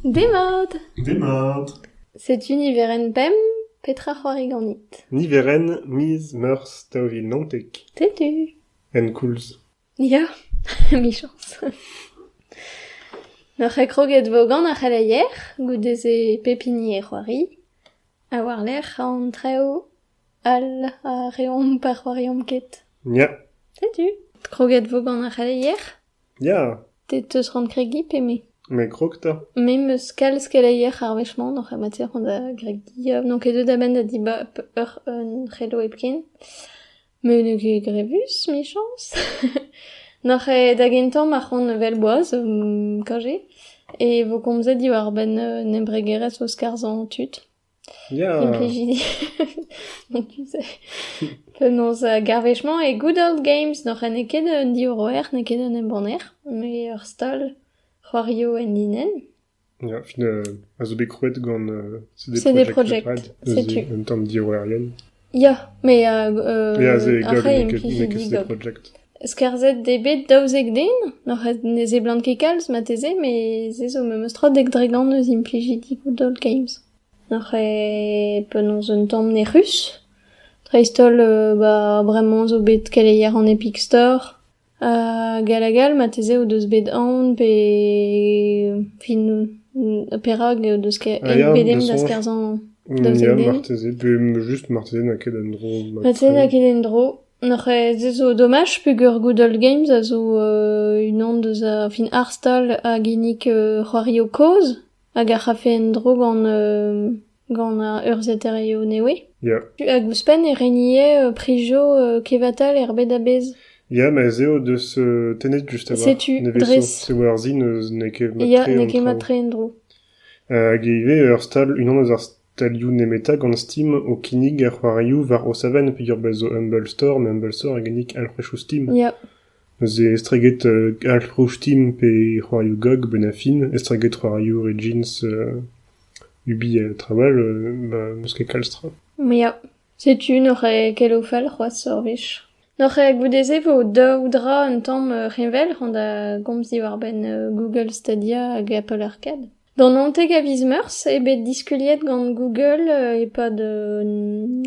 Demat! Demat! Setu niverenn bemp. Petra c'hoari ganit? Niverenn miz Meurzh daou vil naontek. Setu. En koulz. Ya, michañs. N'oc'h ket kroget 'vo gant ar c'heleier, goude-se pep hini e c'hoari. Ha war-lerc'h an traoù all a reomp pa c'hoariomp ket. Ya. Setu. Kroget 'vo gant ar c'heleier? Ya, Te 'teus rann kregiñ pe me? me krog 'ta. Me 'meus kalz keleier ar wech-mañ d'hoc'h en matière da gregiñ. Euh, N'on ket deuet da benn da dibab ur un c'hello hepken. Me n'eo ket grevus, michañs. N'oc'h eo da gentañ ma c'hoant evel boaz um kajet e vo komzet diwar-benn un embregerezh eus skarzhañ tud. Implijidi penaos gav wechemañ e good old games n'eo ket un diorroer, n'eo ket un embanner, met ur stal c'hoarioù enlinenn. Ya, a zo bet krouet gant CD Projekt Red, neuze un tamm diorroerien. Ya, me a... euh... Ya, se ar c'hreiz n'eo ket n'eo ket Sleep Project. Skarzhet eo bet daouzek den, n'oc'h ne seblant ket kalz marteze, met se zo memes tra dek dregan eus implijidi Good Games. N'oc'h eo penaos un tamm nec'hus, dreist-holl euh, ba bremañ zo bet keleier an Epic Store, Gall ha gall marteze o deus bet aon pe fin perak o deus pedenn da skarzhañ da zen den. marteze pe just marteze n'eo ket en-dro marteze n'eo ket en-dro. Nac'h se zo domaj peger Good Old Games a zo unan deus ar fin harstal a ginnig c'hoarioù kozh hag ar c'hafe en-dro gant gant ar urzhiataerioù nevez. Ya. Hag ouzhpenn e renier prijo kevatal er bed a-bezh. Ya, ma ez eo deus euh, tennet just avat. Setu, dres. C'est war-zi n'eus n'eo ket mat-tre. Ya, n'eo ket mat-tre en-dro. Hag ivez ur stal, unan eus ar stalioù nemetañ gant Steam o kinnig ar c'hoarioù war o savann peogwir bez zo Humble Store, mais Humble Store a ginnig alc'hwechoù Steam. Ya. Neuze estreget Alfrostin pe c'hoarioù gag benn ar fin, estreget c'hoarioù red jeans UBL trawal, bah n'eus ket kalz tra. Ya, setu n'oc'h ket ket o fal c'hoazh ur wech. N'oc'h goude-se vo daou dra un tamm reñvel, c'hoant da gomz diwar-benn Google Stadia hag Apple Arcade. D'an untek a viz Meurzh eo bet diskuliet gant Google e-pad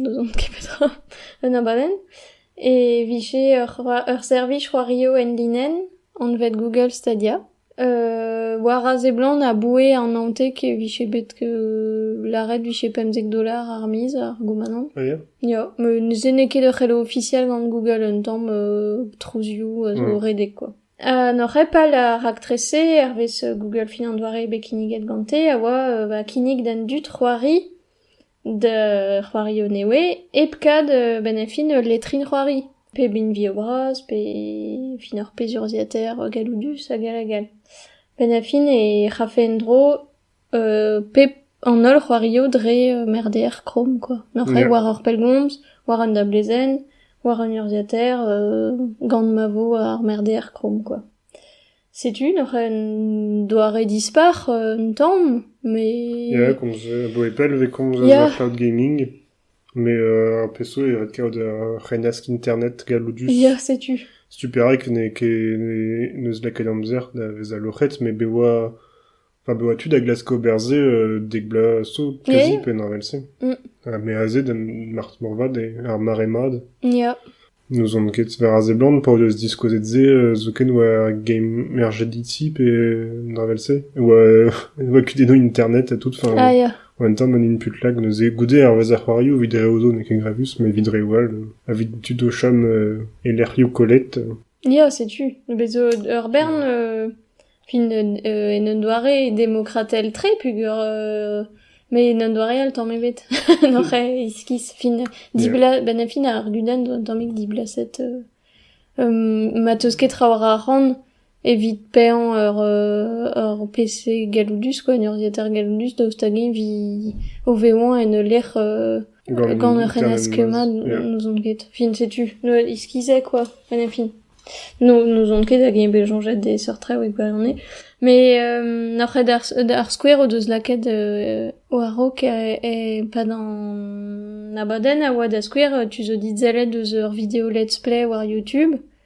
n'ouzon ket petra un abadenn e vije ur servij c'hoario enlinenn anvet Google Stadia war a seblant aboue an untek e vije bet lâret vije pemzek dolar ar miz ar goumanant ya met se n'eo ket ur c'helo ofisial gant Google un tamm trouzioù zo redek quoi N'oc'h ket pal ar raktres-se hervez Google fin an doare bet kinniget gante a oa ba kinnig d'an dud c'hoari d'ur c'hoario nevez hep kad benn ar fin ul letrin-c'hoari pep hini vio bras pe fin ur pezh urzhiataer galloudus hag all hag all. Benn ar fin e c'hrafe en-dro pep an holl c'hoarioù dre merdeer Krom quoi. Neuze war ur pellgomz, war un dablezenn, war un urzhiataer gant ma vo ar merdeer Krom quoi. Setu neuze un doare dispar un tamm, mais... Ya, komz aboe pell e vez komz eus ar cloud gaming, mais ar peso e ret kaout ur c'hennask internet galloudus. Ya, setu. Setu perak n'eo ket n'eus lakaet amzer da vezañ loc'het, met bez 'oa Enfin, bezañ tu da glask ober se euh, dek bloaz zo, kazi yeah. penn evel-se. Mm. Ha me aze da marc'h morvat, ar mare mat. Yeah. N'ouzon ket, war a seblant, pa o deus diskouezet se, euh, zoken war game RGDT pe evel-se, oa, oa kudennoù internet et tout, enfin, ah, yeah. En même temps, man une put lag neuze goude hervez ar c'hoarioù vit dre odo n'eo ket grevus, mais vit dre wall, euh, a vit tud o chom euh, e lec'hioù kollet. Ya, setu. Bet zo ur bern euh fin en un doare demokratel-tre peogwir euh met en un doare all tamm ebet oc'h iskis fin diblas benn ar fin ar gudenn zo un tammig diblaset euh ma 'teus ket traoù war ar c'han evit paeañ ur ur PC galloudus quoi un urzhiataer galloudus daoust hag-eñ 'vi o vevañ en ul lec'h euh Gant ur c'hennaskema n'ouzon ket. Fin setu. Noël iskizek quoi. Enfin fin. N'ouzon ket hag eo bet soñjet e seurt traoù e gwirionez. Mais n'oc'h ket d'ar skouer o deus lakaet war-raok e-pad an abadenn a oa da skouer tu zo dit sellet eus ur video let's play war YouTube.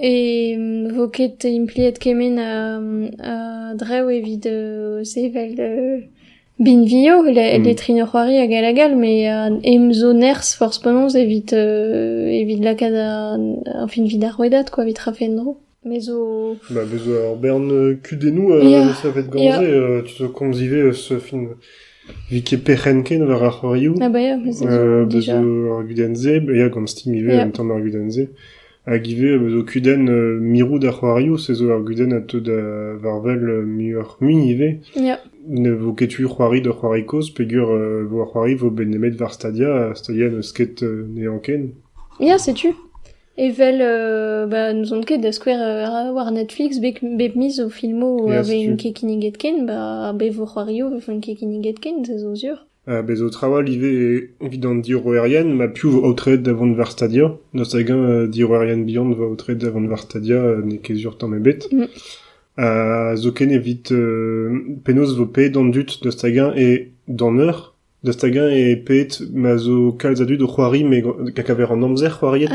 E vo ket impliet kement a-dreñv evit sevel binvioù, letrin ur c'hoari hag all hag all, met emzo nerzh forzh penaos evit evit lakaat ar fin evit ar rouedad kwa, evit rafe en-dro. Me zo... Ma bez zo ur bern kudennoù savet gant-se, tu zo komz ivez eus fin evit ket perc'henn ken war ar c'hoarioù. Ah bah ya, bez zo déjà. Bez zo ar gudenn-se, ya gant Steam ivez, un tamm ar gudenn-se. Hag ivez am eus kudenn mirout ar c'hoarioù, se zo ur gudenn a teu da varvel muioc'h-mui ivez. Ya. Ne vo ket tu c'hoari d'ur c'hoari kozh peogwir e vo ar c'hoari vo bet nemet war Stadia, ha Stadia n'eus ket n'eo ken. Ya, setu. Evel, euh, bah, n'ouzon ket da skouer euh, war Netflix bep, bep miz o filmoù euh, vez ket kinniget ken, bah, ar bev c'hoarioù vez ket kinniget ken, se zo sur. Bez' zo traoù all ivez evit an diorroerien ma piv 'vo aotreet da vont war stadia. Daoust hag-eñ diorroerien bihan 'vo aotreet da vont war stadia n'eo ket sur tamm ebet. zoken evit penaos 'vo paeet an dud daoust hag-eñ eo d'an eur, daoust hag-eñ eo paeet ma zo kalz a dud o c'hoari met a-kaver an amzer c'hoariet.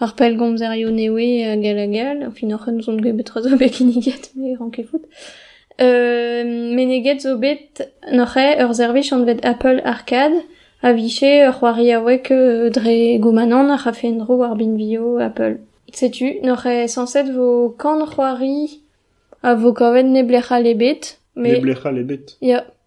Ar pellgomzerioù nevez hag all hag all. Fin oc'h eus on bet tra zo bet kinniget, me ran ket fout. Euh, meneget zo bet noc'he ur servij anvet Apple Arcade a vije ur c'hoari aouek euh, dre goumanant a c'hafe en-dro war binvioù Apple. Setu, noc'he sañset vo kan c'hoari a vo kavet neblec'h all ebet. Mais... Neblec'h all ebet. Ya.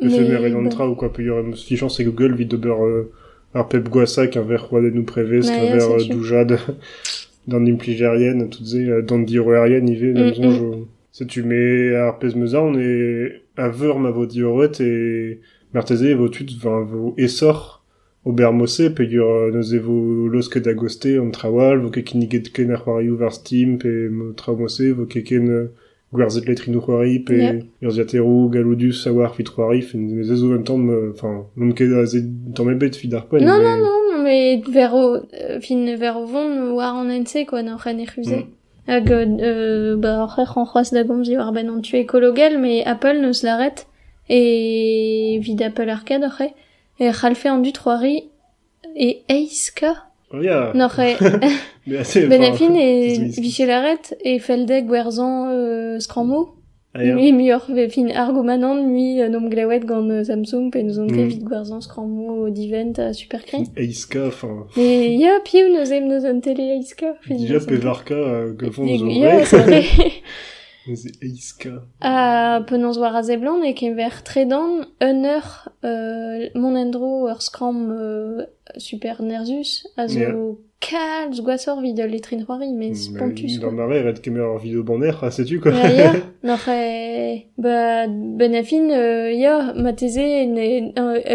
Degemeret an tra ou quoi peogwir em eus dichañs e Google evit ober ar pep gwashañ keñver roadennoù prevez, keñver doujad d'an implijerien ha tout-se, d'an diorroerien ivez, d'am soñj. Setu me ar pezh 'm eus aon e a veur ma vo diorroet e marteze e vo tud, 'vo aesoc'h Ober mod-se peogwir neuze e vo laosket a-gaoz-te an traoù all, vo ket kinniget ken ar c'hoarioù war Steam pe traoù mod-se, vo ket ken gwerzhet letrinoù-c'hoari pe urzhiataeroù galloudus a-walc'h evit c'hoari. Met se zo un tamm... Enfin, n'omp ket aze tamm ebet evit ar poent. Non, non, non, met ver o... fin ver o vont war an hent-se quoi, n'oc'h en refuzet. Hag euh, bah, oc'h ec'h an c'hoazh da gomz diwar-benn an tu écologel, mais Apple neus lâret, et evit Apple Arcade oc'h eo, e c'hallfe an dud c'hoari e aizka n'oc'h benefin e vije lâret e felldeg gwerzhañ skrammoù mui muioc'h fin argomanant mui n'omp glewet gant Samsung pe n'ouzon ket evit gwerzhañ skrammoù divent ha superkri aizka e ya piv n'eus neuze un tele aizka déjà pevarka gavon ya c'est vrai Penaos war a seblant e-keñver tredan un eur mont en-dro ur skramm super nerzhus a zo kalz gwashoc'h evit ul letrin-c'hoari met spontus quoi. Gant a rae ret kemer ur video banner ha setu quoi. Ya ya, n'oc'h ba benn a fin ya marteze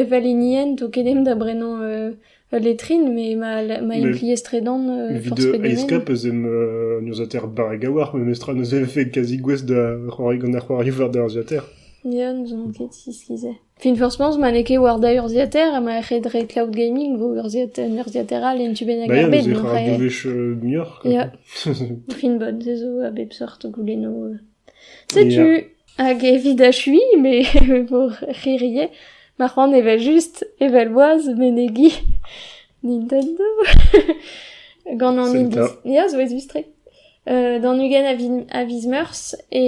evel hinienn 'to ket emp da brenañ Ul letrin, mais ma, ma em pliez-tredan euh, force Evit aescap eus em euh, nurzater barregawar, memestra neuze vefe kazi gouest da c'hoari gant ar c'hoari war da urziater. Ya, n'ouzon ket si skizé. Fin forcement, ma n'eo ket war da urziater, ma ret re cloud gaming vo urziater, urziater all en tu bennak ar bed. Ba ya, neuze ra bouveche muioc'h. Ya, fin bod, zezo a bep sort goulenno euh, Setu, hag evit achuiñ me vor c'hirie, ma c'hoant evel-just, evel-boaz menegiñ Nintendo gant an Indy. Ya, zo aezus-tre. D'an ugent a vi- a viz Meurzh e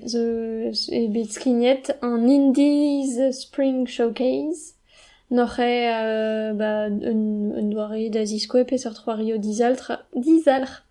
zo eo bet skignet an Indy's Spring Showcase. Noc'h eo ba un un doare da ziskouer peseurt c'hoario dizalc'h dizalc'h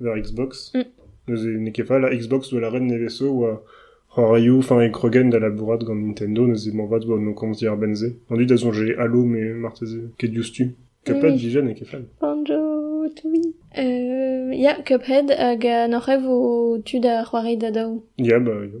war Xbox. Mm. Neuze n'eo ket fall. Xbox zo lâret nevez-zo oa c'hoarioù, enfin e krogen da labourat gant Nintendo, neuze moarvat oa no komz diar benn-se. On dit da soñje Halo, mais marteze ket diouzhtu. Cuphead, Oui. digen, n'eo ket fall. Banjo, oui. Euh, ya, Cuphead, hag uh, n'oc'h e vo tu da c'hoari da daou? Ya, bah, yo.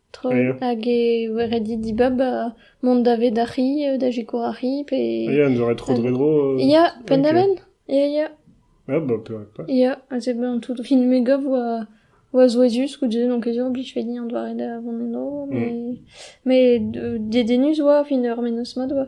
Hag e voe ret dit dibab mont daved ar c'hi, da sikour ar c'hi pe... Ya, en doa ret tro dre dro... Ya, penn-da-benn, ya, ya. Ya, bah, pe- Ya, ha se ben tout rin-me gav oa, oa souezhus goude, donc ez eo a blij fet din an doare da vont eno, mais, mais dedennus oa, fin ur mennozh mat oa.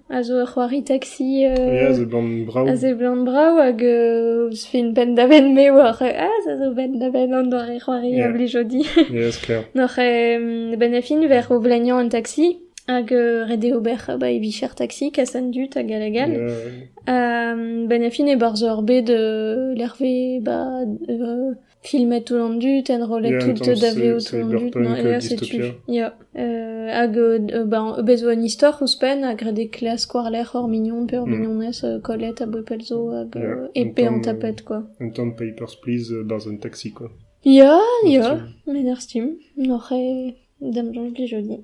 a zo ur c'hoari taxi a seblant brav a seblant brav hag eus fin penn-da-benn me war ah ça zo benn-da-benn an doare c'hoari a blijo di noc'h benn a fin vec'h o vleniañ an taxi hag ret eo ober ba e vicher taxi kas an dud hag all hag all benn a fin e barzh ur bed lerve ba Filmet tout an dud, enrollet tout da vezout tout an dud, ya setu, ya, hag ba bez 'oa un istor ouzhpenn a grede klask war-lerc'h hor mignon pe hor mignonez kollet a boe pell zo hag epe an tapet quoi. Un tamm papers please 'barzh un taxi quoi. Ya, ya, met ar stim, n'oc'h ket damsoñj plij 'zo dit.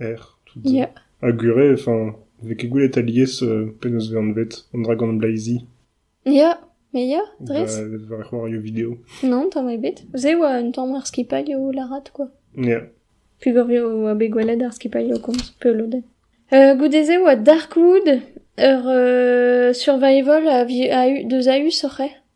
Er tout domm. Ha gwir eo, enfin, ne vez ket gwelet alies penaos eo anvet an dragon bleizi. Ya, me ya, dres. War ar c'hoarioù-video. Non, tamm ebet. Se oa un tamm ar skipailh o lârat, quoi. Ya. Pugorvio oa bet gwelet ar skipailh o komz peulodenn. Euh, goude-se oa Darkwood, ur euh, survival a, a eu deus a eu oc'h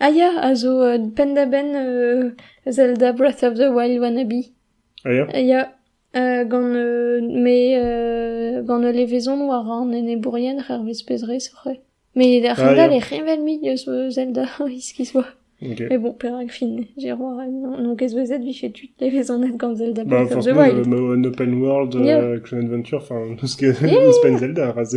Ah ya, a zo penn-da-benn Zelda Breath of the Wild Wannabe. Ah ya? Ah ya, gant me gant ul levezon war an enebourien hervez pezh-rez c'hweh. Mais a-hend-all e heñvel-mik eus Zelda iskis oa. Ok. Mais bon, perak fin, Jérôme, non qu'est-ce que vous êtes, vije tu levezonet gant Zelda Bah Breath of the forcément Wild. le- un open world, Yeah. euh, action adventure, enfin tout ce que ouzhpenn Zelda, ra se.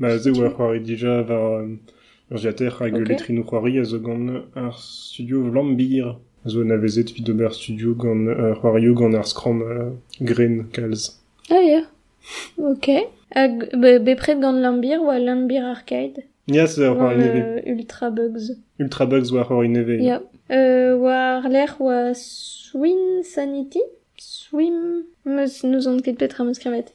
Ma'z eo ur c'hoari dija war urzhiataer hag letrennoù c'hoari a zo gant ar studio Vlambir a zo anavezet evit ober studio gant c'hoarioù gant ar skramm gren kalz. Ah ya, ok. Hag bepred gant Lambir oa Lambir Arcade? Ya, c'est ur c'hoari nevez. Ultra Bugs. Ultra Bugs oa c'hoari nevez. Ya. War-lerc'h oa Swim Sanity. Swim, nous en ket bet tra meus krevet.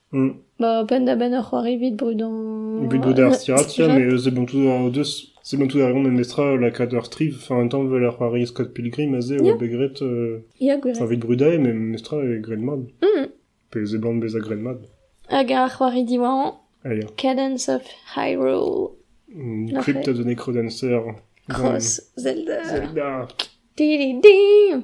Ba penn-da-benn ur c'hoari evit brudañ... Evit bout ar stirad-se, mais seblantout o deus... seblantout a reont memestra lakaat ur striv, enfin un tamm 'vel ar c'hoari Scott Pilgrim aze, oa bet graet... Ya, gwir. Enfin evit brudañ, mais memestra e graet mat. Pe seblant bezañ graet mat. Hag ar c'hoari diwar-mañ, Allez. Cadence of Hyrule. Crypt a donné Crodancer. Cross, Zelda. Zelda. Didi-di!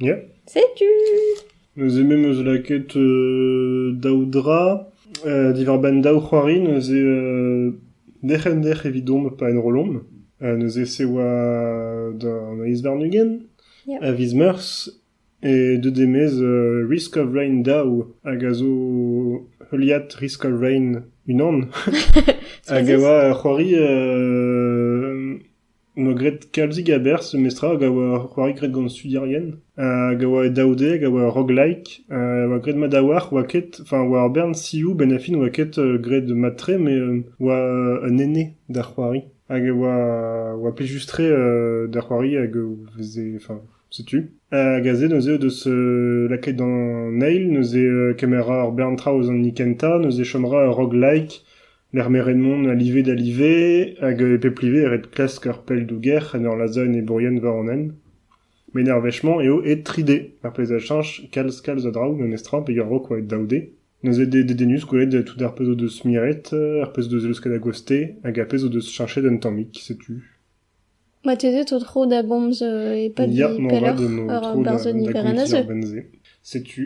Ya. Setu Neuze me 'm eus lakaet euh, daou dra. Euh, diwar-benn daou c'hoari neuze euh, derc'hent-derc'h evidomp pa enrollomp. Euh, neuze se oa d'an Aes Varnugen, Ya. a viz Meurzh, e deut emez euh, Risk of Rain daou, hag a zo heuliad Risk of Rain unan, hag a Soazis. oa ur c'hoari euh, 'noa graet kalzik a-berzh memez tra hag a oa c'hoari graet gant studierien hag a oa e daou de hag a oa rock-like ha oa graet mat a-walc'h oa ket enfin oa ur bern sioù benn ar fin oa ket graet mat-tre met oa un ene da c'hoari hag oa oa plijus-tre da c'hoari hag e veze enfin setu hag aze neuze o deus lakaet d'an eil neuze kemer ur bern traoù eus an hini kentañ neuze chom 'ra ur rock-like D'ar meret-mont a live da live hag e pep live e ret klask ar pell-douger en ur lazhañ enebourien war an hent. Met ar wech-mañ eo aet 3D, ar pezh a cheñch kalz kalz a draoù memestra peger rok oa aet daou D. Neuze eo dedennus gwelet tout ar pezh o deus miret, ar pezh o deus leusket a-goste hag ar pezh o deus cheñchet un tammig, setu. Marteze 'zo tro da bomz e-pad pelloc'h ur aberzhoni berenn-a-zeu. Setu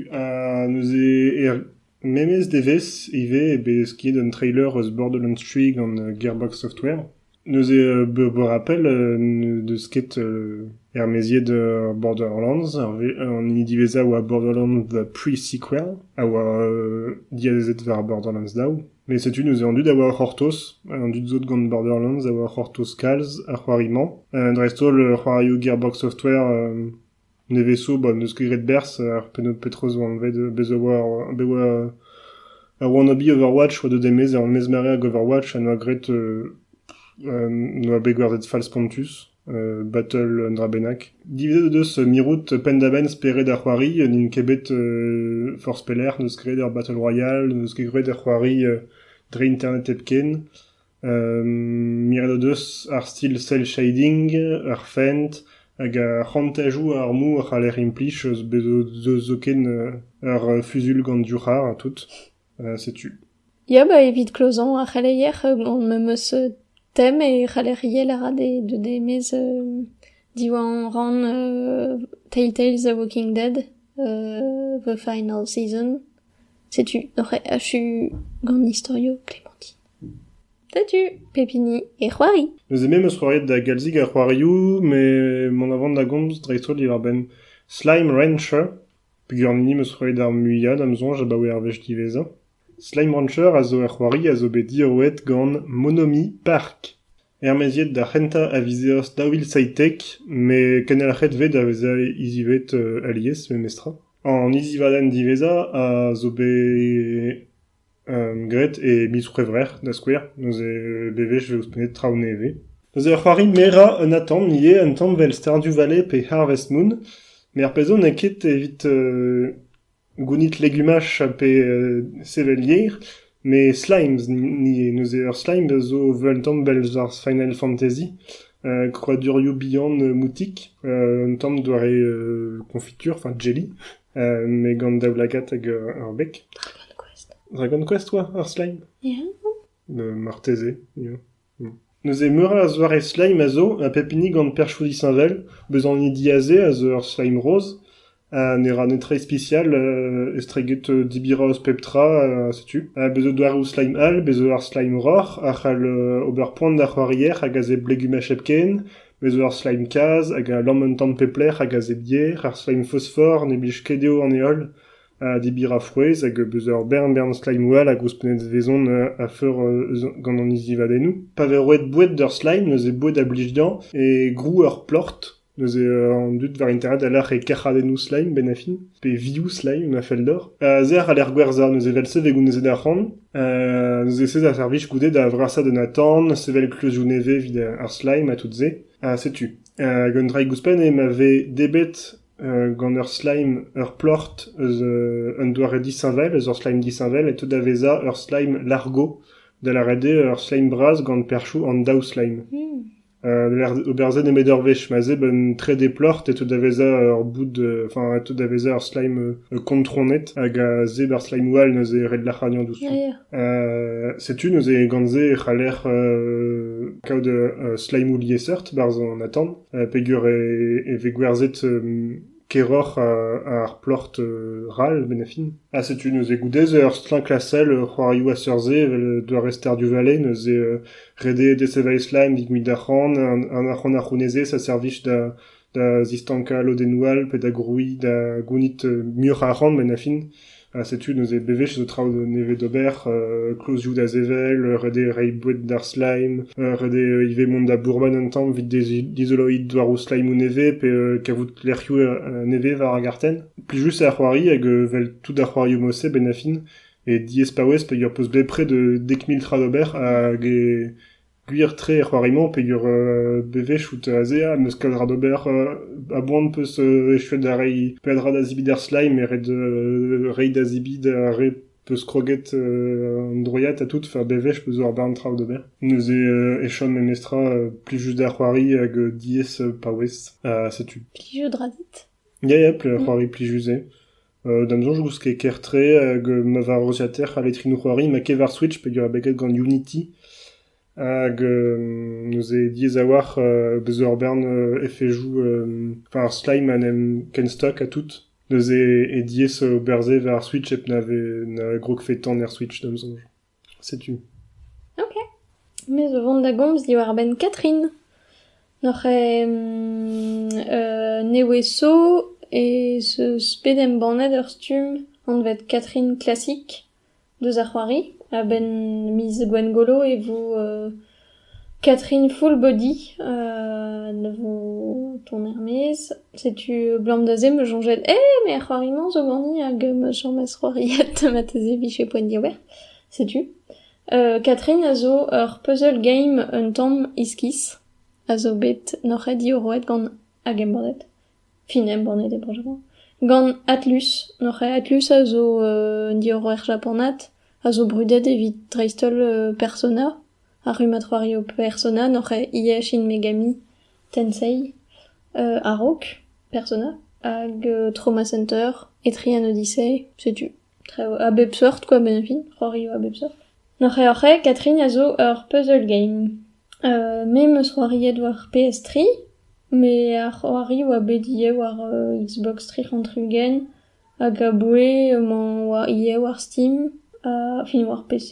neuze er memes devezh ivez eo bet skiet un trailer eus Borderlands 3 gant Gearbox Software. Neuze beure rappel n'eus ket ermaeziet Borderlands. An hini diwezhañ a oa Borderlands The Pre-Sequel a oa diazezet war Borderlands daou. Met setu neuze an dud a oa o c'hortoz, an dud sot gant Borderlands a oa o c'hortoz kalz ar c'hoari-mañ, dreist-holl c'hoarioù Gearbox Software nevez-zo, bon, n'eus ket graet berzh, ar petra zo anvet, bez' a oa, bet oa ar Wannabe Overwatch oa deuet e-maez, ar mezmere hag Overwatch a noa graet, noa bet gwerzhet fall spontus. Battle un dra bennak. Divezet o deus mirout penn-da-benn spered ar c'hoari. N'int ket bet forzh pelec'h. N'eus ket graet er Battle Royale. N'eus ket graet er c'hoari dre internet hepken. Miret o deus ar stil cell shading, ar fent hag ar c'hontajoù armoù a c'haller implij eus bet zoken ur fuzul gant div c'harr ha tout. Setu. Ya ba evit klozañ ar c'heleier gant me'm eus tem e c'haller ivez lâret deut e-maez diwar an rann Telltales the Walking Dead the final season. Setu oc'h achu gant istorioù Clémentine. Setu pep hini e c'hoari. Neuze me 'm eus c'hoariet da galzig a c'hoarioù met mont a van da gomz dreist-holl diwar-benn Slime Rancher. Peganin 'm eus roet ar muiañ da'm soñj abaoe ar wech diwezhañ ? Slime Rancher a zo ur c'hoari a zo bet diorroet gant Monomi Park, ermaeziet d'ar c'hentañ a viz Eost daou vil seitek, met kenelc'het eo bet da vezañ hizivet alies memestra. An hizivadenn diwezhañ a zo bet Graet e miz C'hwevrer da skouer, neuze bewech e vo ouzhpennet traoù nevez. Neuze ur c'hoari merañ un atant ivez, un tamm evel Stardew Valley pe Harvest Moon, met ar pezh zo n'eo ket evit gounit legumaj pe sevel yer, met slimes, neuze ur slime zo 'vel un tamm 'vel ar Final Fantasy, krouadurioù bihan moutik, un tamm doare konfitur, enfin jelly. met gant daoulagad hag ur beg. Dragon Quest oa ar slime Ya. Marteze, ya. Neuze meur a zoare slime a zo, ha pep hini gant perchoù disheñvel. Bezañ an hini diazez a zo ur slime rose, ha ne ra netra ispisial euh, estreget euh, dibiraos pep tra, euh, setu. Ha bezo doareoù slime all, bezo ar slime roc'h, a c'hall ober poan d'ar c'hoarier hag a zeblegum hepken, Bez' ur sleim-kazh hag a lamm un tamm pep lec'h hag a zedier. Ar sleim-fosfor ne blij ket dezho an heol ha debir a frouezh hag beus ur bern-bern sleimoù all a gouspenn vezont a-feur gant an izzivadennoù. Pa vez roet boued d'ur sleim neuze boued a blij dezhañ e grou ur plort. Neuze an dud war internet a lâr e kerc'hadennoù sleim benn ar fin pe vioù sleim ma fell deoc'h. A-zerc'h a lec'h gwerzhañ neuze evel-se 'vez gounezet arc'hant. Neuze ez a ar servij goude da vrasañ un atant, sevel kleuzoù nevez evit ar slime ha tout-se. Ha setu. Hag un draig ouzhpenn eo ma vez debet gant ur slime ur ploc'h eus un doare disheñvel, eus ur slime disheñvel, e teu da vezañ ur slime largo, da lâret eo ur slime bras gant perchoù an daou slime. ober se nemet ur wech ma 'z eo un trede plac'h e teu da vezañ ur boud enfin e teu da vezañ ur slime kontronet hag a zeb ar slimeoù all neuze ret lac'hagnañ diouzhtu setu neuze gant se e c'haller kaout slimeoù liesseurt 'barzh an atant peogwir e vez gwerzhet Keroc'h ar plort ral, Benefin. Ha setu neuze goude-se ur stlañk-lastell, c'hoarioù a-seurt-se evel doare Stardew Valley, neuze ret eo desevel e slaen evit gouzout arc'hant, an arc'hant a c'hounezez a servij da da zistankañ lodennoù all pe da grouiñ, da gounit muioc'h a arc'hant, Benefin. Ha setu neuze bewech zo traoù nevez d'ober, klozioù da sevel, ret eo reiñ boued d'ar slime, ret eo ivez mont da bourmen un tamm evit dizoloiñ douaroù slimoù nevez pe kavout lec'hioù nevez war ar gartenn. Plijus eo ar c'hoari hag evel tout ar c'hoarioù-mañ-se benn ar fin, e diaes paouez peogwir 'peus bepred dek mil tra d'ober hag Gwir-tre er c'hoari-mañ peger bewezhout ez ea n'eus ket ra d'ober a-boan 'peus echuet da reiñ peadra da zebriñ d'ar slime ret reiñ da zebriñ d'ar re 'peus kroget an droiad ha tout fa bewech 'peus ur bern traoù d'ober. Neuze e chom memestra plijus da c'hoari hag diaes paouez ha setu. Plijout 'ra dit? Ya ya c'hoari plijus eo. D'am soñj 'm eus ket ker-tre hag ma varzhiater ha letrinoù-c'hoari ma ket war Switch peogwir eo bet graet gant Unity hag neuze diaes a-walc'h bezañ ur bern efejoù enfin ar slime a 'n em kenstock ha tout neuze eo diaes ober se war Switch hep na vez na grogfe tan er Switch d'am soñj. Setu. Ok. Me zo vont da gomz diwar-benn Catherine. N'oc'h ket euh nevesañ ez eus bet embannet ur stumm anvet Catherine Classic deus ar c'hoari a-benn miz Gwengolo e vo Catherine Fullbody ne vo tont er-maez. Setu 'blam da se 'm eus soñjet eh me a c'hoari-mañ zo ganti hag ma chomas c'hoariet marteze 'vije poent diouer. Setu. Catherine a zo ur puzzle game un tamm iskis a zo bet noc'het diorroet gant hag embannet. fin embannet e Benjamin, gant Atlus. Noc'h eo Atlus a zo un diorroer japanat a zo brudet evit dreist-holl Persona, ar rummad c'hoario Persona, noc'h eo ivez Shin Megami Tensei a-raok Persona, hag Trauma Center e Trian Odyssey, setu. Traoù a bep seurt kwa beñvin, c'hoarioù a bep seurt. N'hor c'hreoc'he, Catherine, a zo ur puzzle game. me 'm eus c'hoariet war PS3, met ar c'hoarioù oa bet ivez war Xbox tri c'hant tri-ugent hag aboue emañ war ivez war Steam, enfin war PC,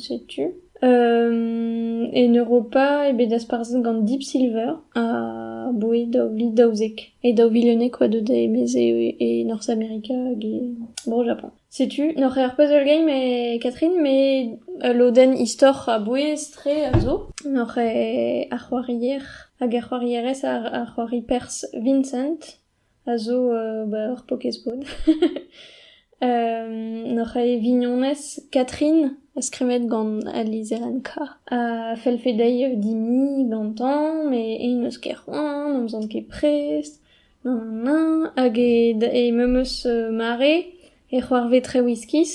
setu. E Europa eo bet dasparzhet gant Deep Silver aboue daou vil daouzek. E daou vil unnek oa deuet da emeze e Norzh Amerika hag e Bro Japan. Setu, n'oc'h eur puzzle game e Catherine, met ul lodenn istor a-bouez tre a zo. N'oc'h ar c'hoarier hag ar c'hoarierez ar, ar c'hoari Pers Vincent a zo uh, ba ur Pokéball. N'oc'h e vignonez Catherine, skrivet gant al lizherenn-kañ, a fellfe dezhi dimiñ gantañ, met eñ n'eus ket c'hoant, n'omzan ket prest, hag he memes mare e c'hoarve traoù iskis,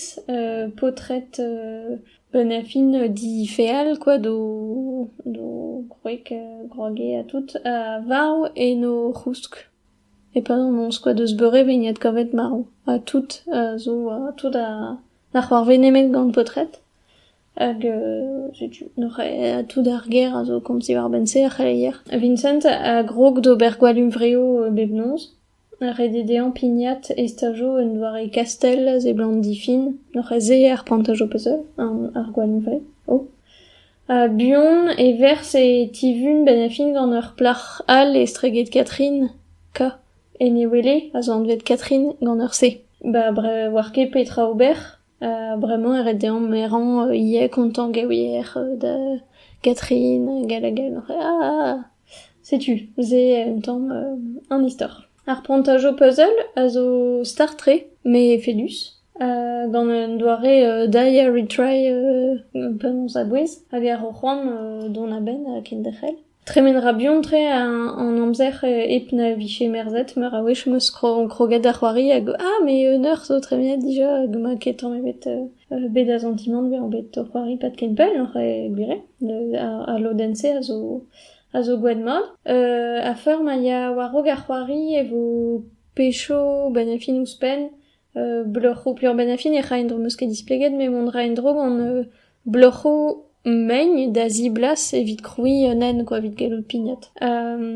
paotred bennafin difeal kwa d'o gwreg groge ha tout, a varv en o c'housk. E-pad an noz kwa deus beurevin adkavet marv ha tout zo tout a c'hoarvez nemet gant paotred hag setu neuze tout ar gêr a zo komz diwar-benn-se ar c'heleier. Vincent a grog d'ober gwall huñvreoù bep noz. Redit dezhañ pignat e stajo un doare kastell a seblant difin. Neuze se ar pantaj ho peus ar gwall huñvre. O! A-buan e verzh e tivun 'benn ar fin gant ur plac'h all estreget Katrin K. En e wele az anvet Katrin gant ur C. Ba oar ket petra ober ha bremañ e ret deomp merañ ivez kontañ gaouier da Katrin hag all hag all. Ah! setu se un tamm an istor. Ar prantaj ho puzzle a zo start-tre met efedus, gant un doare die a retry penaos a-bouez hag a ro c'hoant dont a-benn kenderc'hel. Tremen 'ra buan-tre an amzer hep na vije merzet meur a wech 'm eus kroget da c'hoari hag ah mais un eur zo tremenet dija hag emañ ket tamm ebet bet da santimant bezañ bet o c'hoari pad ken pell oc'h e gwir eo. Ha lodenn-se a zo a zo gwed-mat. a feur ma ya war-raok ar c'hoari e vo pecho bennafi ouzhpenn. bloc'hoù peurbennafi ne ra en-dro 'm eus ket displeget met mont 'ra en-dro gant bloc'hoù mein da ziblas evit krouiñ un hent kwa evit gellout pignat.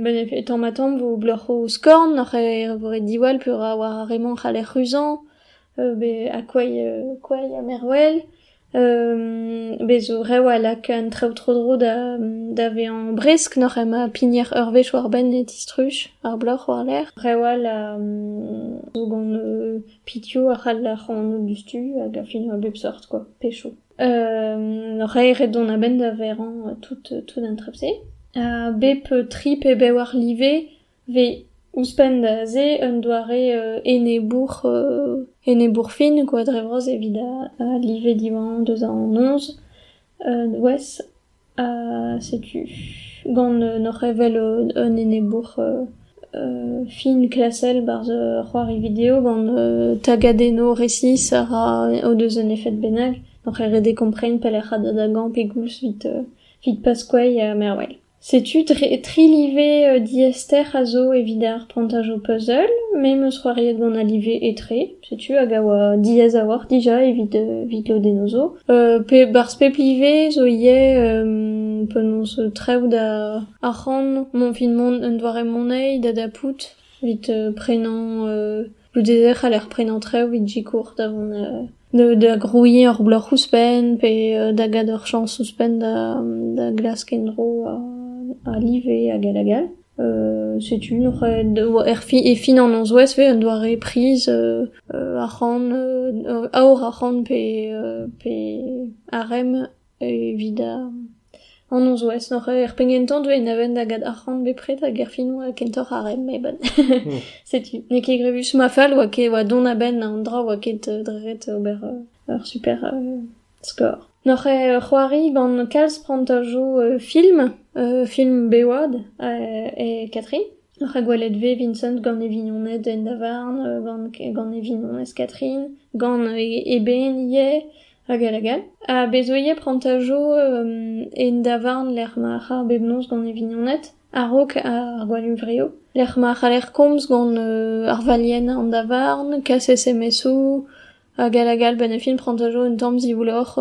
bennafi tamm-ha-tamm 'vo bloc'hoù skorn oc'h e vo ret diwall peura war ar re-mañ 'c'haller ruzañ. Be akoai koai ha mervel. Bez 'zo rev a-lak an traoù tro-dro da vezañ bresk n'oc'h ema pigner ur wech war-benn e distruj ar bloc'h war-lerc'h. Rev all a zo gant pizioù a c'hall ar c'hanoù diouzhtu hag a fin a bep seurt kwa, pecho. N'oc'h ae ret dont a-benn da verañ tout an trep-se. Ha bep tri pe bevar live Vez ouzhpenn da se un doare enebour enebour fin quoi dre vras evit a live diwañ deus an noz wezh ha setu gant n'oc'h evel un enebour fin klasel barzh ur c'hoari-video gant tagadennoù resis a ra o deus un efed bennak n'oc'h ket ret kompren pelec'h a da da gañ pegoulz evit evit Pasquale ha mervel. Setu tri live diaester a zo evit ar prantaj ho puzzle, me 'm eus c'hoariet gant al live etre, setu hag a oa diaes a-walc'h dija evit evit lodennoù zo. Pe 'barzh pep live zo ivez penaos treout ar c'han, mon 'vit mont un doare moneiz da dapout evit prenañ Goude e c'haller prenañ traoù evit sikour da vont da grouiñ ur bloc'h ouzhpenn pe da gad ur chañs ouzhpenn da glask en-dro a live hag all hag all. Setu ur e fin an nozvezh ivez un doare priz arc'hant aour arc'hant pe arem Evit an nozvezh oc'h er penn-kentañ deuet na ven da get arc'hant bepred hag erfinoù kentoc'h ar re-mañ met setu n'eo ket grevus. Ma fall oa ket oa dont a-benn an dra oa ket dre ret ober ur super skor. N'oc'h c'hoari gant kalz prantajoù film, film Bewad e Katrin. Rakwelet vez Vincent gant e vignoned en davarn, gant e vignonez Catherine, gant e benn ivez, hag all hag all. Ha bez 'oe ivez prantajo en davarn lec'h ma c'harr bep noz gant e vignoned, a-raok ar gwallhuñvreoù, lec'h ma c'haller komz gant ar valienn an davarn, kaset SMS-o, Ar Galagal, ben e fin prantajo un tamm zivouloc'h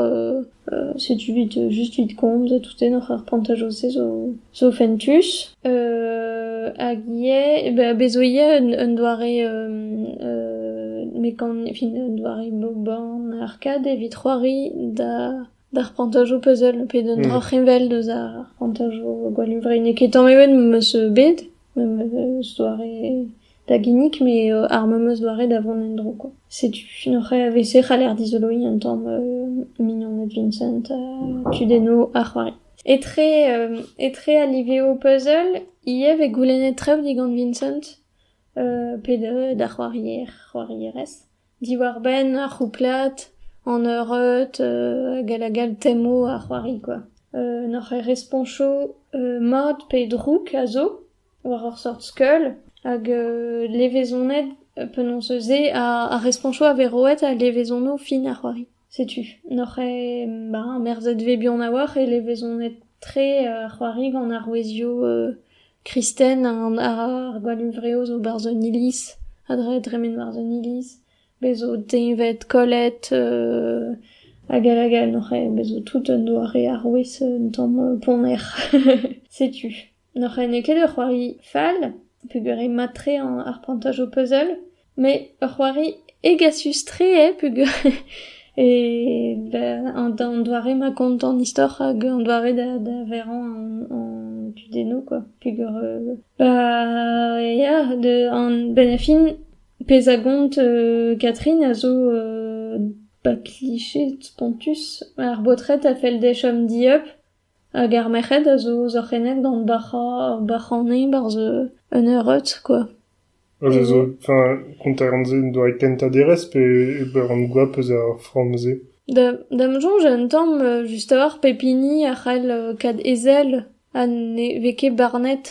setu 'vit just 'vit komz toutennoc'h ar prantajo-se zo zo fentus hag ivez be be zo ivez un un doare mekan fin un doare boban arcade evit c'hoari da D'ar pantajoù puzzle pe d'un droc'heñvel deus ar pantajoù gwallhunvre n'eo ket tamm ebet ma 'meus bet memes doare da ginnig met ar memes doare da vont en-dro kwa. Setu oc'h evese c'haller dizoloiñ un tamm mignoned Vincent ha kudennoù ar c'hoari. Etre etre al liveoù puzzle ivez vez goulennet traoù digant Vincent pe d'ar c'hoarier c'hoarierez. Diwar-benn ar c'houplad, an eureud hag a lagad temoù a c'hoari kwa. N'hoc'h eus respoñsoù mat pe drouk a zo war ur seurt skeul hag levezoned penaos eus se ar respoñsoù a vez roet ha levezonoù fin a c'hoari. Setu, n'oc'h ket bah merzet 'vez buan a-walc'h e levezonet-tre ar c'hoari gant arouezioù kristen ar gwallhuñvreoù zo 'barzh un iliz a dremen barzh un iliz, bez' zo deñved, kollet hag all hag all, n'oc'h ket? Bez' zo tout un doare arouez un tamm ponner, setu. N'hoc'h ene ket ur c'hoari fall peogwir eo mat-tre ar prantaj ho puzzle met ur c'hoari hegasus-tre eo peogwir an doare-mañ kont an istor hag an doare da verañ an tudennoù kwa peogwir ba ya benn ar fin pezh a gont Catherine a zo ba kliche spontus ar baotred a fell dezhañ chom dieub Hag ar merc'hed a zo ouzh ar c'hened gant bac'hañ bac'hane 'barzh un eureud kwa. A zo zo, enfin kontaran-se un doare kentañ derez pe ran goap eus ar framm-se. Da da'm soñj un tamm just a-walc'h pep hini a c'hall kaout e sell ha ne vez ket barnet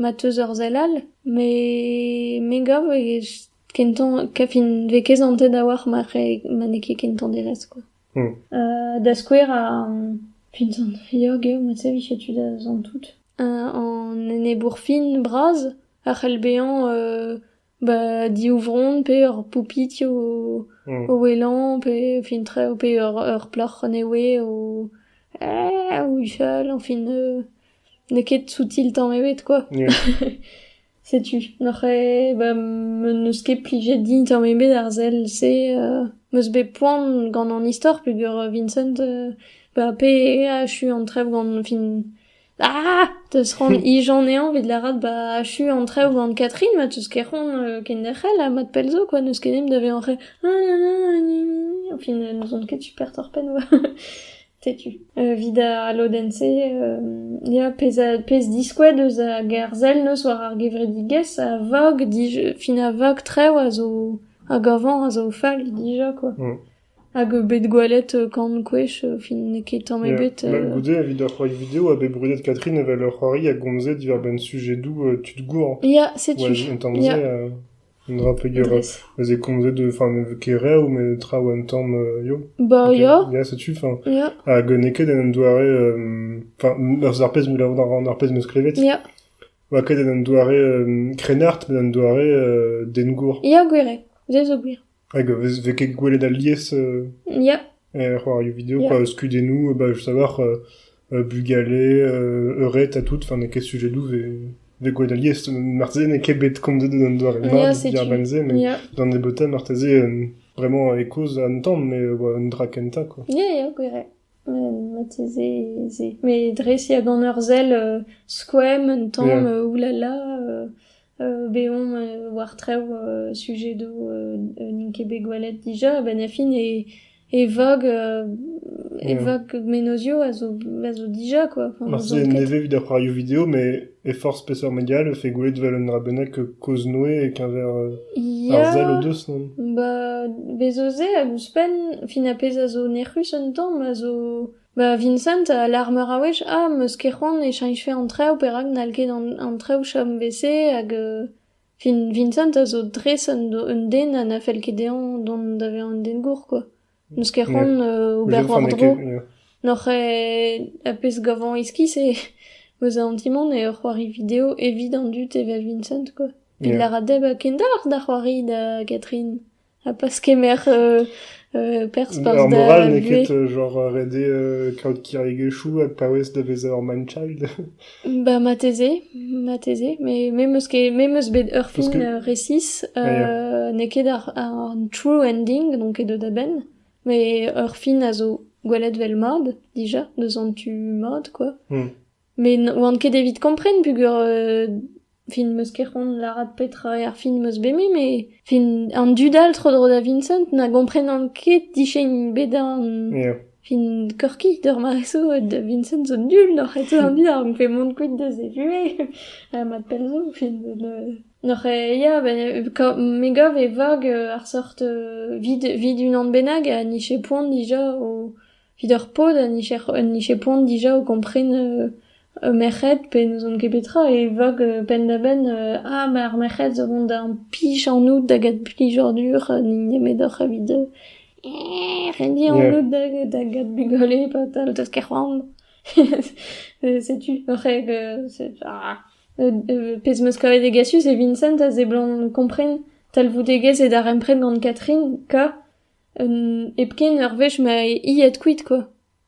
ma teus ur sell all me me gav e ken-tañ kavfint 'vez ket santet a-walc'h ma n'eo ket kentañ derez kwa. Da skouer puñs an riog eo met se 'vije tu da zont tout. An enebour fin bras a c'hell bezañ ba div vronn pe ur poupitz o ouelañ pe fin-tre pe ur plac'h newe o o huchal, enfin n'eo ket soutil tamm ebet quoi. Setu, oc'h eo ba n'eus ket plijet din tamm ebet ar sell-se, m'eus bet poan gant an istor peogwir Vincent ba pe a achu an trev gant fin ah! Teus c'hoant ij anezhañ evit lâret ba achu an trev gant Catherine ma teus ket c'hoant kenderc'hel ha mat pell zo kwa n'eus ket dimp da vezañ an fin n'ouzon ket super torr-penn oa. Setu, evit al lodenn-se, ya, pezh diskouez deus ar ger-sell neus war ar gevredigezh a vog dija, fin a vog trev a zo, hag avañ a zo fall dija quoi. Hag bet gwelet kant gwech, fin n'eo ket tamm ebet. Goude, evit ur c'hoari video oa bet brudet Catherine evel ur c'hoari a gomze diwar-benn sujedoù tud gour. Ya, setu. Ya. Un dra pegeras, ez eo komzet eus an kereoù met traoù un tamm ya. Bah ya. Ya setu, enfin. Ya. Hag n'eo ket en un doare, enfin eus ar pezh mil a ran ar pezh 'meus klevet. Ya. Oa ket en un doare krennard met un doare dengour. Ya gwir eo. Se zo gwir. Hag vez ket gwelet alies. Ya. c'hoarioù video, skeudennoù, bah just a-walc'h bugale, eured ha tout, n'eo ket sujedoù vez gwelet alies, marteze n'eo ket bet komzet d'an doare-mañ diàr-benn-se, met d'an nebeutañ marteze vraiment e koz an tamm, mais un dra kentañ quoi. Ya, ya, gwir eo. Marteze ez eo. Mais dres ya d'an eur sell skoemp un tamm, oulala, Bet omp war traoù sujedoù n'int ket bet gwelet dija a-benn ar fin e vog e vog menozioù a zo a zo dija quoi. Marteze nevez evit ar c'hoarioù video met e forzh peseurt media e vefe gwelet evel un dra bennak kozh-noe e-keñver ar sell o deus non? Ba bez eus se hag ouzhpenn fin ar pezh a zo nec'rus un tamm a zo Ba Vincent a lâr meur a wech ah 'm eus ket c'hoant e cheñchfe an traoù perak n'hall ket an traoù chom eve hag fin Vincent a zo dres un den ha na fell ket dezhañ dont da vezañ un den gour quoi. N'eus ket c'hoant ober war-dro. N'oc'h a pezh gavañ iskis e eus an ti-mañ eo c'hoari video evit an dud evel Vincent quoi. Evit lâret dezhe ba kendalc'h da c'hoari da Catherine. Ha pas kemer perzh barzh da buhez. Ar moral n'eo ket genre ret eo kaout kirigezhioù ha paouez da vezañ ur man-child. Bah marteze, marteze, mais me 'm eus ket me 'm eus bet ur film que... resis, n'eo ket an true ending, n'on ket deut a-benn, mais ur film a zo gwelet 'vel mad, dija, deus an tu mad, quoi. Met oan ket evit kompren peogwir euh, fin 'm eus ket c'hoant lâret petra eo ar film 'm eus bet me met fin an dud all tro-dro da Vincent na gomprenan ket dichein bedan Ya. fin Corky d'ur mare-so da Vincent zo nul n'oc'h ez an dud donc fait mont kuit deus e vuhez ha mat pell zo fin ne- n'oc'h e- ya ben, ka- me gav e vag euh, ar sort euh, vide vide unan bennak ha ni che poan dija o Evit ar paotr en dije poan dija o kompren ur merc'hed pe n'ouzon ket petra e vag penn-da-benn ah ma ar merc'hed zo vont da implij anout da get plijadur n'int nemedoc'h evit rendiñ anout da get bugale patal deus ket c'hoant setu c'hwek pezh 'meus kavet degasus e Vincent a seblant kompren talvoudegezh e darempred gant Catherine ka Hepken ur wech ma eo aet kuit kwa.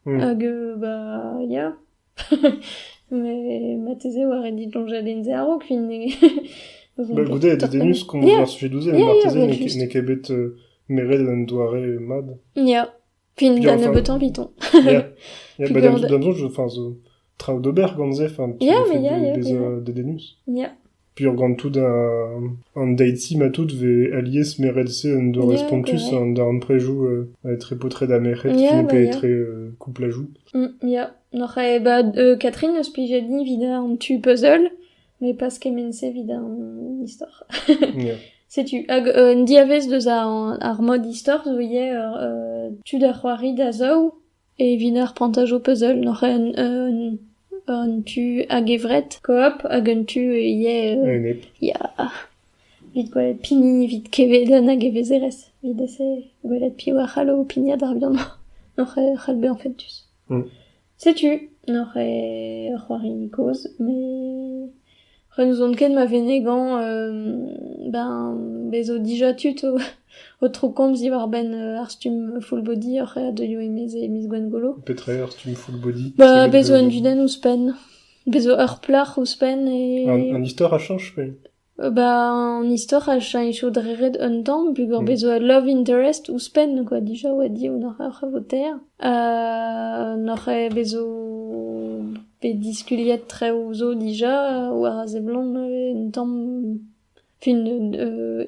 Hag bah ya, met marteze e oa ret diloñjadenn se a-raok fin Bah goude e dedennus komañs ar sujet douze, met marteze n'eo ket bet meret un doare mat. Ya, fin da nebeutañ Python. Ya, bah da m'soñj, enfin zo... traoù d'ober gant se, enfin, tu yeah, mais yeah, de, yeah, bezañ dedennus. Yeah. Puis gant tout an date-ci ma tout vez alies merelse un doare yeah, spontus an darn prejou euh, etre potre da merc'hed yeah, qui ne peut yeah. euh, couple à joue. Mm, yeah. Noc'h e ba euh, Catherine eus plije ni vid an tu puzzle, mais pas kement-se vid an istor. yeah. Setu, hag euh, un diavez deus ar, ar mod istor zo ivez euh, tu da c'hoari da zaou, Evit ar prantaj ho peus holl n'hoc'h eus un tu a-gevret koop hag un tu ivez ya evit gwelet pini evit kevedenn hag evezherez evit ese gwelet piv a c'hallo pignat ar liamm n'hoc'h eus c'hall bezañ fentus. Setu n'hoc'h eo ur c'hoari kozh met Re n'ouzon ket ma venegañ ben bez 'zo dija tud o troukomz diwar-benn ar stumm full-body oc'h aet deuio e-maez e miz Gwengolo. Petra eo ar stumm full-body? Ba bez 'zo un dudenn ouzhpenn. Bez 'zo ur plac'h ouzhpenn e... Un istor a chañch pe? Ba an istor a chañcho dre ret un tamm peogwir bez 'zo ul love interest ouzhpenn quoi dija oa diaes oc'h eo votaer. N'oc'h aet bez 'zo Pe diskuliet traoù zo dija war a seblant un tamm fin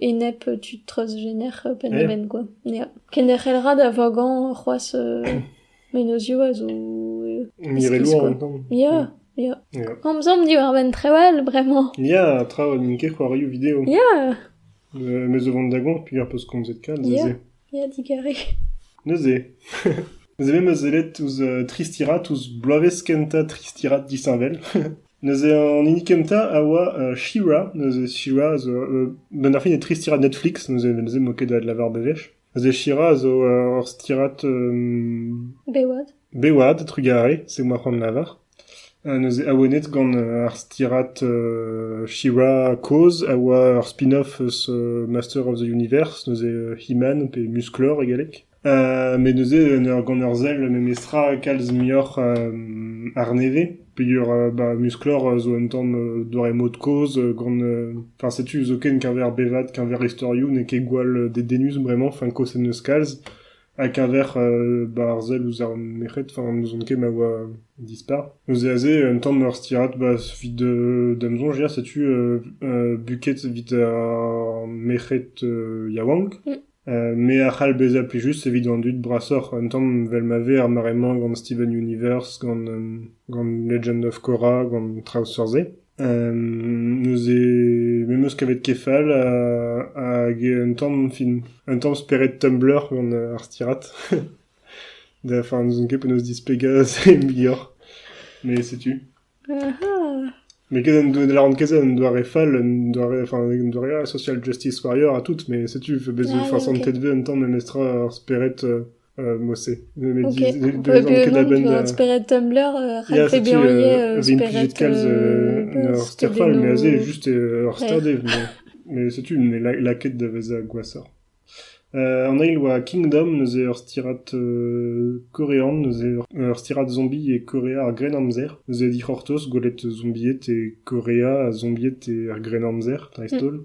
enep tud treuzjener penn-da-benn kwa ya. Kenderc'hel ra da vogañ c'hoazh menozioù a zo iskis kwa ya ya. Komzomp diwar-benn traoù all bremañ. Ya traoù n'int ket c'hoarioù video. Ya! Me zo vont da goñ peger peus komzet kalz aze. Ya, digarez. Neuze, neuze me 'm eus sellet ouzh euh, Tristirat, ouzh bloavezh kentañ Tristirat disheñvel. neuze an hini kentañ a oa euh, She-Ra. Neuze She-Ra a zo euh, benn ar fin e Tristirat Netflix, neuze neuze m'eo ket aet lavar bewech. Neuze She-Ra a zo euh, ur stirat euh, Bewad. bewad, trugarez, c'est moi c'hoant lavar. Neuze awenet gant ar stirad She-Ra kozh a oa ur spin-off eus Master of the Universe, neuze He-Man pe Musclor e galleg. Met neuze gant ur sell memestra kalz muioc'h arnevez peogwir ba Musclor zo un tamm doare mod-kozh gant... Enfin setu zoken keñver bevad, keñver istorioù n'eo ket gwall dedennus bremañ, enfin kosenn eus kalz. A-keñver ba ar sell ouzh ar merc'hed, enfin n'ouzon ket ma oa dispar. Neuze aze un tamm ur stirad ba evit da'm soñj ya setu buket evit ar merc'hed yaouank. Me a c'hall bezañ plijus evit an dud brasoc'h un tamm vel ma vez ar mare-mañ gant Steven Universe, gant gant Legend of Korra, gant traoù seurt-se. Neuze me 'm eus kavet kefal hag un tamm fin un tamm spered Tumblr gant ar stirad. Da enfin n'ouzon ket penaos displegañ se muioc'h. Mais setu. Mais ket un doare n'en ket se un doare fall un doare enfin un doare social justice warrior ha tout mais setu 'vo bet 'vo fasantet 'vo un tamm memestra ar spered Mosse. que la bande. Un spirit Tumblr, raclé bien spirit. Steadfall, mais assez juste Rockstardé. Mais c'est une mais la quête de Veza Guassa. En ail oa Kingdom neuze ur stirat korean neuze ur stirat zombie e Korea ar gren amzer neuze dic'hortoz gwelet zombiet e Korea ha zombiet e ar gren amzer dreist-holl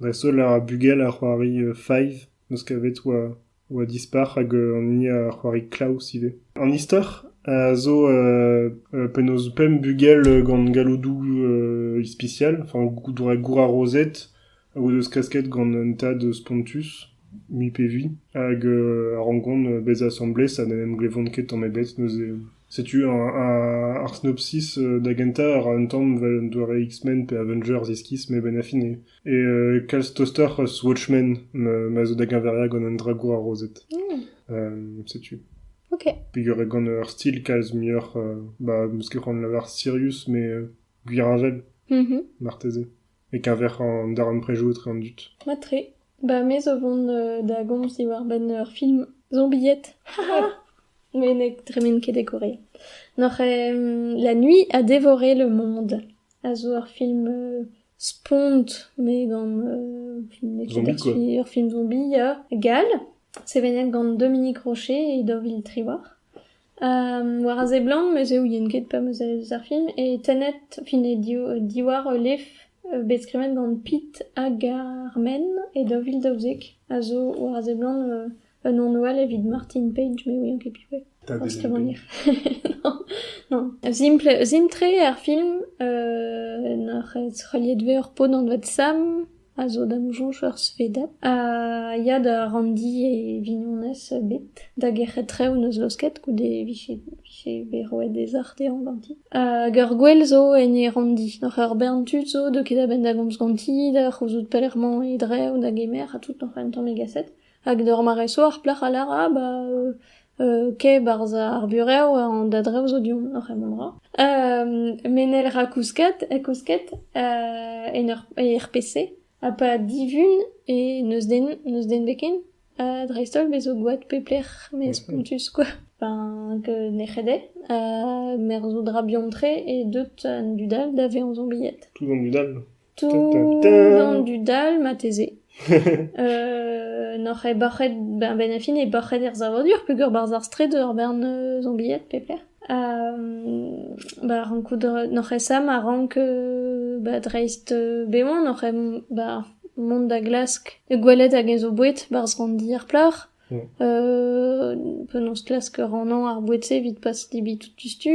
dreist-holl ar bugel a c'hoari Five, n'eus ket bet oa oa dispar hag an hini a c'hoari Klaus ivez. An istor a zo penaos pemp bugel gant galloudoù ispisial, enfin doare gourarozed, a o deus klasket gant un tad spontus, mui pe vui, hag a rankont bezañ asambles ha n'en em glevont ket tamm ebet neuze. Setu ar sinopsis da gentañ a ra un tamm evel un doare X-Men pe Avengers iskis met benn ar fin eo kalz tostoc'h eus Watchmen ma zo da geñveriañ gant un dragour arrozet. Setu. Ok. Peogwir eo gant ur stil kalz muioc'h, ba 'm eus ket c'hoant de lavar sirius, met gwir avel, marteze. e-keñver an darempredoù etre an dud. Mat-tre. Ba me zo vont da gomz diwar-benn ur film zombied. met ne dremen ket e Korea. N'oc'h La nuit a dévoré le monde a zo ur film spont met gant film ur film zombi gall sevenet gant Dominique Rocher et Deauville Triwar. War a seblant me 'z ouien ket pa 'm eus eus ar film eo tennet fin eo diwar ul lef bet skrivet gant Pit hag ar Menn e daou vil daouzek a zo war a seblant un anv all evit Martin Page me 'ouien ket piv eo. Pas skrivagner. Non, simpl-tre ar film n'oc'h heuliet 'vez ur paotr anvet Sam. a zo da'm soñj ur svedad ha ya da ranndi e vignonez bet da gerc'het traoù n'eus laosket goude e vije vije bet roet ez ac'h dezhañ ganti hag ur gwel zo en e ranndi oc'h ur bern tud zo deuet ket a-benn da gomz ganti da c'houzout pelec'h emañ e drev da gemer ha tout oc'h un tamm egaset Hag d'ur mare-so ar plac'h a lâra ah ba kae 'barzh ar burev an da-drev zo du-hont oc'h en em ra. menel ra kousket, kousket en ur er PC ha pa divun e n'eus den n'eus den 'bet ken dreist-holl bez' zo gwad pep lec'h met spontus kwa. Enfin que nec'het eo merzout ra bihan-tre e deut an dud all da vezañ bilhet. Tout an dud all? Tout an dud all marteze n'oc'h ket bac'het ben ben e fin eo bac'het er savadur peogwir barzh ar straed ur bern zombied pep lec'h ha ba rankout n'oc'h ket sa ma rank ba dreist bevañ n'oc'h ket ba mont da glask gwelet hag-eñ zo boued barzh ranndi ar plac'h penaos klask rannañ ar boued-se evit pas debriñ tout diouzhtu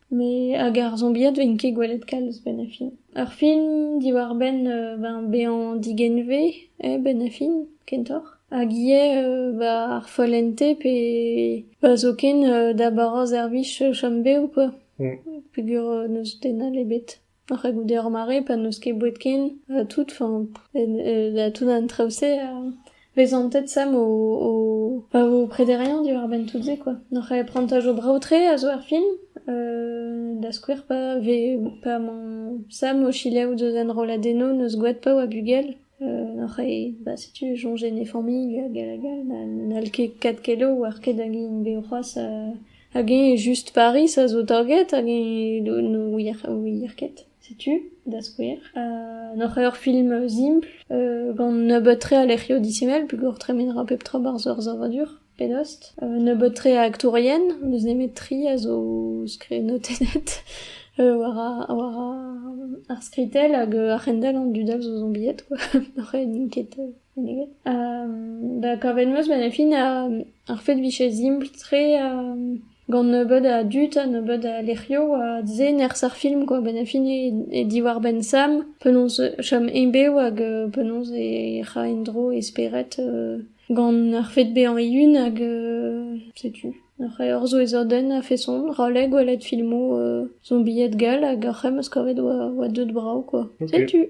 Met hag ar zombiad 'vin ket gwelet kalz 'benn ar fin. Ar film diwar-benn ben bezañ digenvez eh benn ar fin kentoc'h hag ivez ba ar follente pe pa zoken da bara servij chom bev kwa peogwir n'eus den all ebet. Oc'h goude ar mare pa n'eus ket boued ken ha tout, enfin da tout an traoù-se a vez antet Sam o o pa vo prederiañ diwar-benn tout se quoi. N'oc'h prantaj o brav-tre a zo er film da skouer pa vez pa emañ Sam o selaou deus enrolladennoù n'eus gwad paour ha bugel. C'hwi bah setu soñjet en e familh hag hag all n'hall ket kat ket ober ket hag int bet c'hoazh hag eñ just Pariz a zo taget hag eñ ne ouier ouier ket setu da skouer. N'oc'h ket ur film simpl gant nebeut-tre a lec'hioù disheñvel peogwir tremenera pep tra barzh ur savadur. Pedost, un nebeud-tre a aktourien, n'eus nemet tri a zo skrivnotennet war ar skritell hag ar c'hendell an dud all zo zombiet quoi, n'oc'h n'int ket meneget. Da kavet 'm eus ben e fin ar fed 'vije simpl-tre gant nebeud a dud ha nebeud a lec'hioù se nerzh ar film quoi, ben e fin eo diwar-benn Sam, penaos chom ebev hag penaos e ra en-dro e spered Gant ar fed bezañ eeun hag setu, ur c'heur zo e zodenn a-feson, roll eo gwelet filmoù zombied gall hag ar c'hemm eus kavet oa deut brav quoi. Setu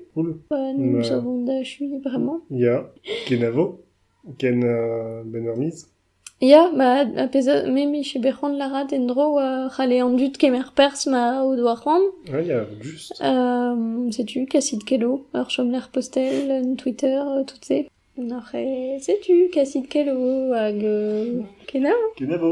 pa n'em eus a vont da achuiñ bremañ. Ya, kenavo, ken benn ur miz. Ya, ma ar pezh a me mije bet c'hoant lârat en-dro oa c'halle an dud kemer perzh ma o doa c'hoant. Ah ya, just. setu, kasit kelo, ur chomlec'h postel, un Twitter, tout-se. N'oc'h ket setu kasit kelaou hag kenavo. Kenavo.